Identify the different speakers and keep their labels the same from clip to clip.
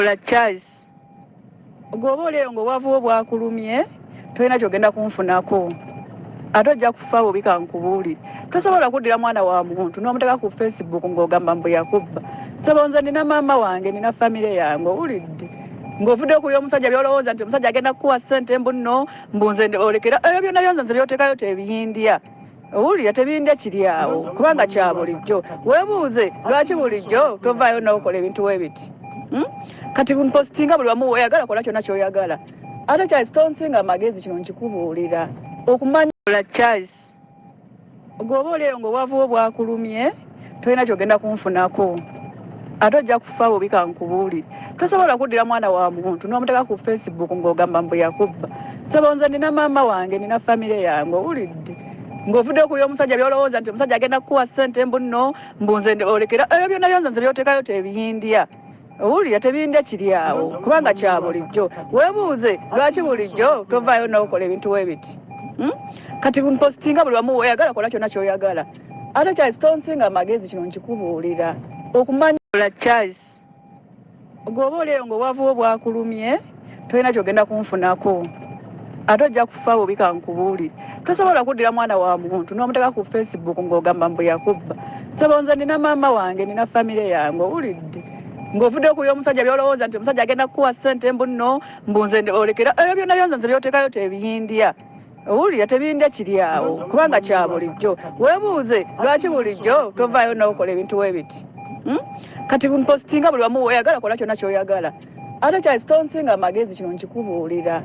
Speaker 1: Ola Charles gwoba oleyo nga obwavuwo bwakulumye tolina kyogenda kunfunako ate ojja kufa bubi kankubuuli tosobola kuddira mwana wa muntu n'omuteeka ku facebook ng'ogamba mbu yakubba sabo nze nina maama wange nina famire yange owulidde ng'ovudde okuya omusajja byolowooza nti omusajja agenda kukuwa ssente mbu nno mbu nze olekera ebyo byonna byonza nze byotekayo tebiyindya owulira tebindya kiri awo kubanga kya bulijjo webuuze lwaki bulijjo tovaayo nokola ebintu webiti hmm? kati mpositinga buli wamu oyagala kola kyona kyoyagala ate charles tonsinga amagezi kino nkikubuulira okumanya ola charles goba olero ngaowavuwo bwakulumye tolina kyogenda kunfunako ate ojja kufa bubi kankubuuli tosobola kuddira mwana wa muntu n'omuteeka ku facebook ng'ogamba mbu yakubba sebo nze nina maama wange nina famire yange owulidde ng'ovudde okuya omusajja byolowooza nti omusajja agenda kukuwa ssente mbu nno mbunze olekera ebyo byonna byonza nze byotekayo tebiyindya owulira tebindya kiri awo kubanga kya bulijjo webuuze lwaki bulijjo tovaayo nawokola ebintu webiti hmm? kati mpositinga buli wamu oyagala kola kyona kyoyagala ate charles tonsinga amagezi kino nkikubuulira okumanya ola charles gwoba oleero ngaowavuwo bwakulumye tolina kyogenda kunfunako ate ojja kufa bubi kankubuulire tosobola kuddira mwana wa muntu n'omuteeka ku facebook ng'ogamba mbu yakubba sebo nze nina maama wange nina famire yange owulidde ng'ovudde okuya omusajja byolowooza nti omusajja agenda kukuwa ssente mbu nno mbu nze olekera ebyo byonna byonza nze byotekayo tebiyindya owulira tebindya kiri awo kubanga kya bulijjo webuuze lwaki bulijjo tovaayo nokola ebintu webiti hmm? kati mpositinga buli wamu oyagala kola kyona kyoyagala ate kyasitonsinga amagezi kino nkikubuulira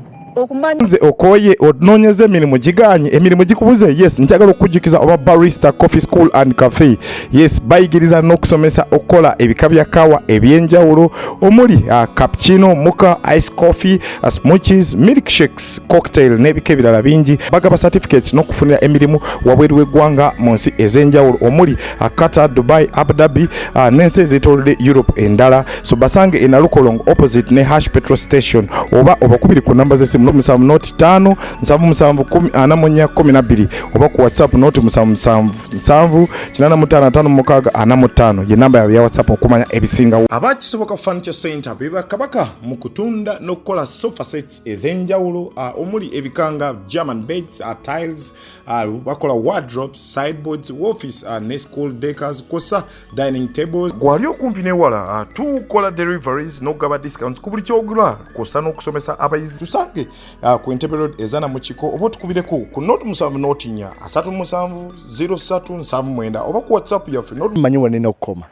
Speaker 1: nze
Speaker 2: okoye onoonyeza emirimu giganye emirimu gikubuze yes njagala okukujjukiza oba barista coffee school and cafe yes bayigiriza n'okusomesa okukola ebika bya kawa eby'enjawulo omuli uh, cappuccino muka ice coffee uh, smoothies milkshakes drinks cocktail n'ebika ebirala bingi bagaba certificate n'okufunira emirimu wabweru w'eggwanga mu nsi ez'enjawulo omuli uh, qatar dubai abu dhabi uh, n'ensi ezeetoolodde europe endala so basange enalukolong opposite ne hash petrol station oba obakubiri ku namba z'essimu noti musanvu noti ttaano nsanvu musanvu kumi ana mu nnya kumi na bbiri oba ku whatsapp noti musanvu musanvu nsanvu kinaana mu ttaano ataano mu mukaaga ana mu ttaano ye namba yaabwe ya whatsapp okumanya ebisingawo abakisoboka furniture center bebakabaka mu kutunda n'okukola sofa sets ez'enjawulo uh, omuli ebikanga german beds uh, tiles uh, bakola wardrobes sideboards office uh, ne school deckers kosa dining tables gwali okumpi newala uh, tukola deliveries nokugaba discounts ku buli kyogula kosa n'okusomesa abayizi tusange uh, ku entebe road ezana mu kiko oba otukubireko ku not musanvu notinya asatu musanvu 03 nsanvu mwenda oba ku whatsapp yaffe manyi wanene okukoma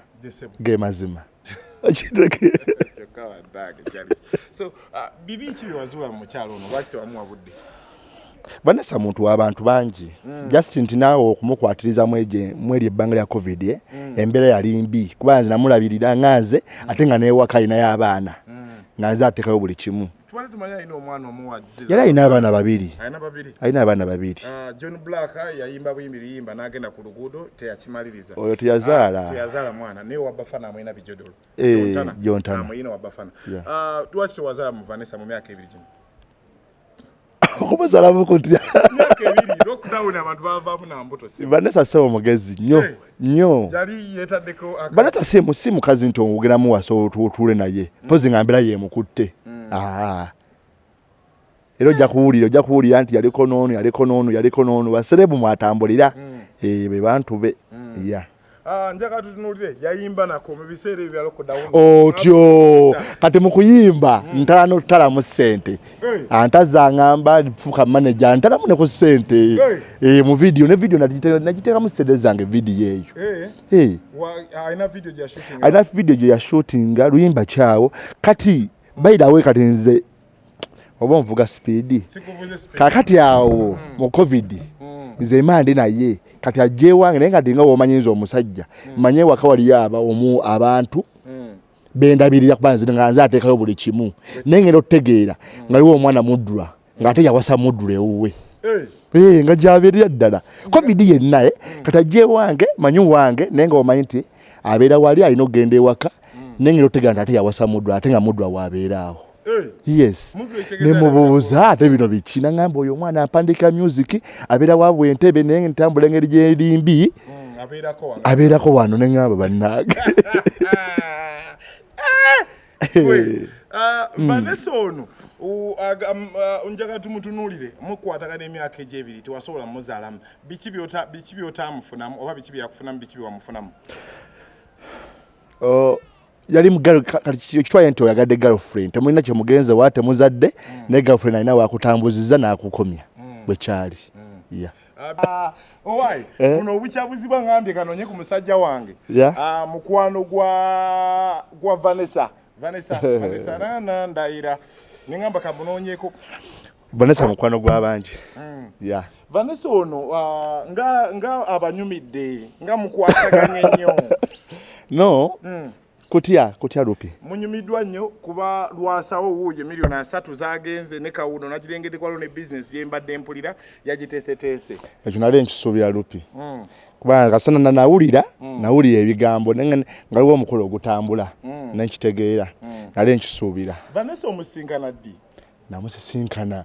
Speaker 3: ge mazima so uh, bibi ki
Speaker 2: byewazuula mu mukyalo ono lwaki tewamuwa budde
Speaker 3: banasa muntu wabantu bangi mm. just nti naawe okumukwatiriza mweri ebbanga lya covid eh? mm. embeera yali mbi kuba nze namulabirira nga nze mm. ate nga newaka alinayo abaana mm. nga nze atekayo buli kimu Twali tumanya alina omwana omu wa Aziza. Yali alina abaana babiri. Alina babiri. Alina abaana babiri. Uh, John
Speaker 2: Black yayimba buyimbi biyimba n'agenda ku luguudo teyakimaliriza. Oyo teyazaala. Uh,
Speaker 3: teyazaala mwana naye wa
Speaker 2: Bafana amulina bijodolo. Eh, Jontana. Jontana.
Speaker 3: Amulina wa Bafana.
Speaker 2: Yeah. Uh, lwaki tewazaala mu Vanessa mu myaka ebiri gino?
Speaker 3: Okumuzalamu kutya? Myaka ebiri
Speaker 2: lockdown abantu bavaamu na mbuto. Vanessa sebo mugezi
Speaker 3: nnyo. Hey. Eh. nyo yali yetadeko
Speaker 2: aka banata si mu si
Speaker 3: mukazi nto ngugera mu waso tuule naye mm. pozi ngambira ye mukutte mm. ah ero ja kuwulira ja kuwulira anti yali konono yali konono yali konono baserebu mwatambulira mm. eh be bantu be mm. yeah Ah,
Speaker 2: njaka tutunulire yayimba nako mu biseera ebyo yalokodawo otyo
Speaker 3: kati mu kuyimba mm. ntala n'otutala mu ssente antaza ngamba fuka manager antalamu ne ku sente eh mu video ne video najiteka najiteka mu sede zange video eyo eh eh aina video ya shooting aina video ya shooting luimba chao kati by the way kati nze oba nvuga speed sikuvuze speed kakati awo mm. mu covid mm. nze imande naye kati ajewange naye kati nga womanyinza omusajja mm. manye wakawali yaba omu abantu mm. bendabirira kuba nze nga nze ateekayo buli kimu naye ngenda otutegeera nga liwo omwana muddula ng'ate yawasa muddula ewuwe eh. Eh, nga gyabeerera ddala covid yenna eh, mm. kati ajja ewange manyi wange naye nga omanyi nti abeera wali alina okugenda ewaka mm. naye ngenda otutegeera nti ate yawasa muddula ate nga muddula waabeera awo yes nemubuuza ate bino biki nangamba oyo omwana ampandika music abeera wa bwentebe naye ntambula engeri gyerimbi mm, abeerako wano nengamba bannange eh, ah,
Speaker 2: hmm. vanessa ono uh, njagala tumutunuulire mukwatagana emyaka egyebiri tewasobola muzaalamu biki byotamufunamu oba biki byeyakufunamu biki byewamufunamu oh,
Speaker 3: yali mugal kati kitwaye nti oyagadde girlfriend temulina kyemugenze wa temuzadde mm. ne girlfriend alina wakutambuziza nakukomya mm. bwekyali mm. yeah. Ah,
Speaker 2: owaayi eh? buno obukyabuzibwa ngambye kanonye ku musajja wange ah, mukwano gwa vanessa vanessa vanessa nana ndayira nengamba kamunonyeko vanessa
Speaker 3: mukwano gwabangi mm. yeah.
Speaker 2: vanessa ono uh, nga, nga abanyumidde nga mukwataganye nnyo no mm.
Speaker 3: kutya kutya lupi munyumiddwa nnyo
Speaker 2: kuba lwasawo wuuyo miliyoni asatu zagenze ne kawuno nagirengedde kwalo ne bizinesi yembadde mpulira yagiteeseteese ekyo nali
Speaker 3: nkisuubira lupi mm. kubanga kasana na nawulira mm. nawulira ebigambo nga waliwo omukolo ogutambula mm. nenkitegeera mm. nali nkisuubira vanessa omusinkana
Speaker 2: ddi namusisinkana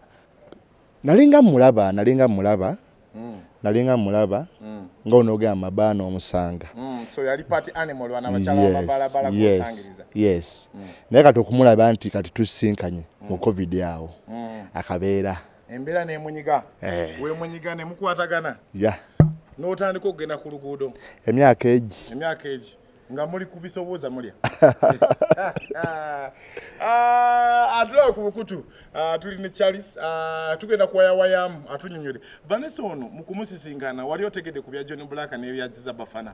Speaker 3: nalinga mulaba nalinga mulaba mm. nalinga mulaba mm. nga onogamba mabaana omusanga mm. so yali party
Speaker 2: animal wana bachala yes. babala bala yes. kusangiriza yes mm.
Speaker 3: naye kati okumulaba nti kati tusinkanye mm. mu covid yawo mm. akabeera embeera
Speaker 2: nemunyiga eh. wemunyiga nemukwatagana ya yeah. n'otandika okugenda ku luguudo emyaka egi
Speaker 3: emyaka egi nga
Speaker 2: muli kubisobooza mulya ah, atulawe ku bukutu ah, tuli ne charles ah, tugenda kuwayawayamu atunyonyole vanessa ono mukumusisinkana wali otegedde ku bya john black nebyaziza bafana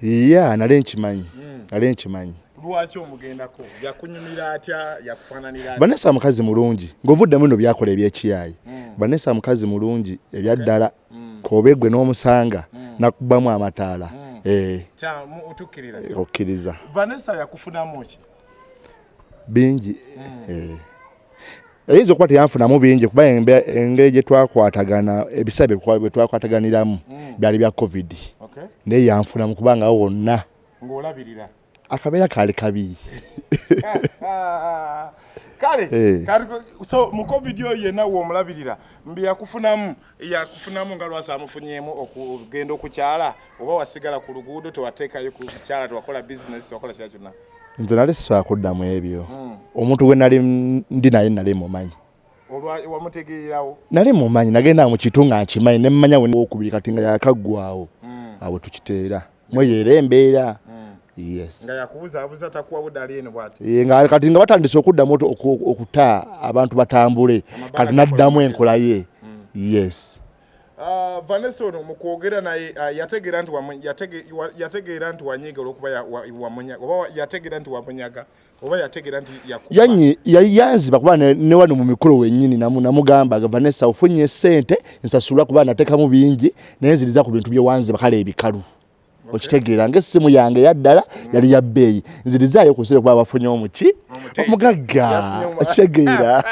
Speaker 2: ya
Speaker 3: nale nkimanyi hmm. nale nkimanyi
Speaker 2: lwaki omugendako yakunyumira atya yakufananira atya vanessa mukazi mulungi
Speaker 3: ngaovuddemu no byakola ebyekiyayi hmm. vanessa mukazi mulungi ebyaddala okay. mm. kobe gwe n'omusanga mm. nakubamu amataala mm. eh. eh, okkiriza vanessa yakufunamu
Speaker 2: ki
Speaker 3: bingi mm. eh. eyinza okuba teyanfunamu bingi kuba engeri gye twakwatagana ebisabe bye twakwataganiramu mm. byali bya covid okay. naye yanfunamu kubanga wonna ng'olabirira
Speaker 2: akabeera kaali
Speaker 3: kabi
Speaker 2: kale eh. so mu covid oyo yenna womulabirira mbi yakufunamu yakufunamu nga lwasa amufunyemu okugenda okukyala oba wasigala ku luguudo tewateekayo kukyala tewakola bizinesi tewakola kira kyonna nze nali sisobola
Speaker 3: kuddamu ebyo hmm. omuntu gwe nali ndi naye nali mumanyi
Speaker 2: nali mumanyi
Speaker 3: nagenda mukitu nga nkimanyi nemumanya wokubiri kati nga yakaggwawo hmm. awo tukiteera mweyeera
Speaker 2: embeera kati nga batandise
Speaker 3: okuddamu okuta abantu batambule kati naddamu enkola ye hmm. yes ah,
Speaker 2: vanessa ono mukwogera naye ah, yategeera nti yategeera nti wanyiga olwokuba oba yategeera nti wamunyaga oba yategera nti yanyi
Speaker 3: yanziba kuba ne wano mu mikolo wenyini namu namugamba agava ne sawo funye sente nsasula kuba nateka mu bingi naye nziriza ku bintu bye wanzi bakale ebikalu okay. okitegeera nga essimu yange yaddala mm. yali ya bbeeyi nzirizaayo ku nsire kuba bafunye omuki omugagga okitegeera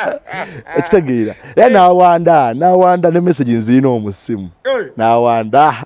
Speaker 3: okitegeera era nawanda nawanda ne message nzirina omusimu nawanda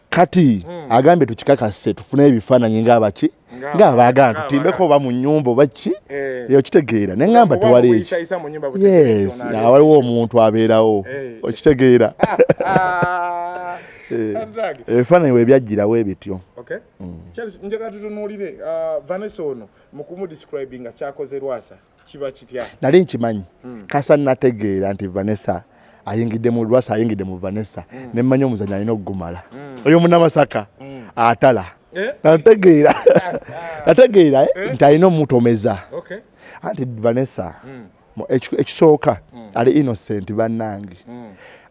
Speaker 2: kati hmm.
Speaker 3: agambye tukikakase tufune ebifaananyi ngaabaki ngaabaagala tutimbeko oba mu nyumba oba ki eh. eyo kitegeera ne ŋŋamba tewali eki yes awaliwo omuntu abeerawo eh. okitegeera eh. ebifaananyi we byajjirawo ebityo hmm.
Speaker 2: njagala tutunuulire uh, vanessa ono mu kumudescribinga kyakoze lwasa kiba kitya nali nkimanyi hmm.
Speaker 3: kasa nategeera nti vanessa ayingidde mu lwasa ayingidde mu vanessa hmm. ne mmanya omuzanyo alina okugumala hmm. oyo munamasaka atala eh? nategeera nategeera eh? Eh? nti alina omutomeza anti vanessa ekisooka ali innocent bannange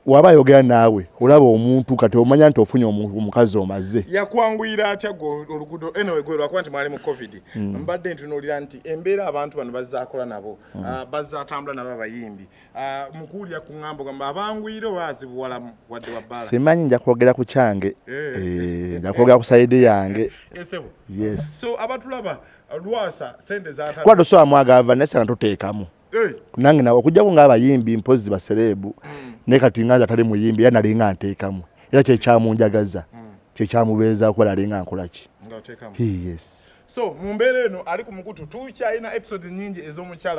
Speaker 3: waba ayogera naawe olaba omuntu kati omanya nti ofunye omukazi omaze yakwanguyira atya
Speaker 2: olugudo enawe gwe lwakuba nti mwali mu covid hmm. mbadde ntunuulira nti embeera abantu bano bazakola nabo hmm. ah, bazatambula nabo abayimbi ah, mukuwulira ku ŋambo gamba abanguyire oba azibuwalamu wadde wabbala simanyi nja kwogera ku
Speaker 3: kyange eh. Eh, nja kwogera ku sayidi yange eh, so abatulaba
Speaker 2: lwasa sente zata kwado so amwaga ava naye
Speaker 3: sanga tuteekamu eh. nange nawe okujjako ng'abayimbi mpozzi basereebu hmm. naye kati nga nze atali muyimbi era nalinga nteekamu era kyekyamunjagaza hmm. kyekyamubeeza kuba nalinga nkolaki
Speaker 2: yes so mu mbeera eno ali ku mukutu tukyalina episode nyingi ez'omukyala